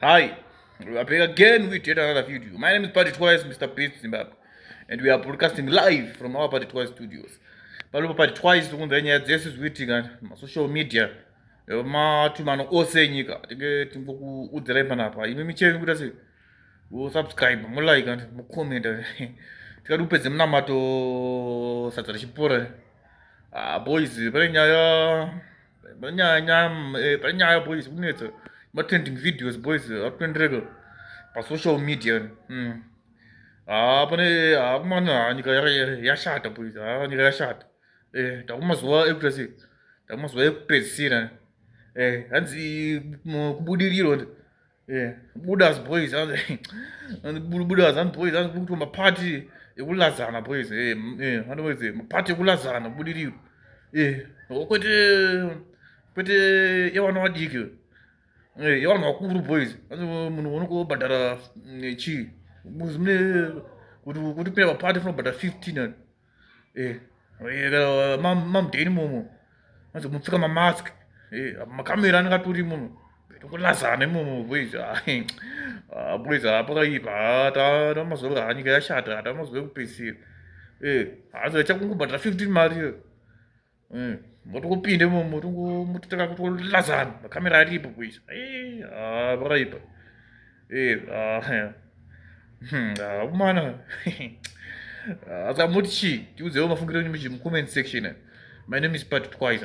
Hi, we're back again with yet another video. My name is Party Twice, Mr. Pete Zimbabwe, and we are broadcasting live from our Party Twice studios. Palopa Party Twice tokunzai nyaya dzese zikuitika masocial media matumano ose enyika tinge tingokuudzerai panapa imi michero kuita sei musubscribe mulike and mucomment tikati upedze munamato sadza richipora ah, boys pane nyaya pane nyaya nyaya eh, pane nyaya boys kunetsa matrending videos boys akutendereka pasocial media hmm. ah, pane akumana ah, nyika yashata boys nyika yashata eh, takumazuva ekuita sei takumazuva ekupedzisira eh, hanzi kubudiriro Yeah. Budas boys, Budas and boys, and book to my party. Ekulazana boys, eh, eh, what was it? My party ekulazana, budiriro. Eh, okwete, kwete, yevana vadiki. Eh, yevana vakuru boys. Asi munhu unokobhadhara chi. Mune kuti kuti pera party funobhadhara 15. eh, eh, eh mamudheni mumu anzi mupfeka mamask eh, makamera anenge atori muno tokulazana imomo boys ah, boys hapakaipa ah, ah, tamazova nyika yashata tamazova kupedzisira eh, hanzi chakungobhadhara 15 mari iyo Mm. Moti kupinde imomo moti mototaka kuti olazana makamera aripo kuisa. Eh, ah, vakaipa. Eh, ah. Hmm, ah, kumana. Asa moti chi, tiudzewo mafungiro enyu mu comment section. My name is Pat Twice.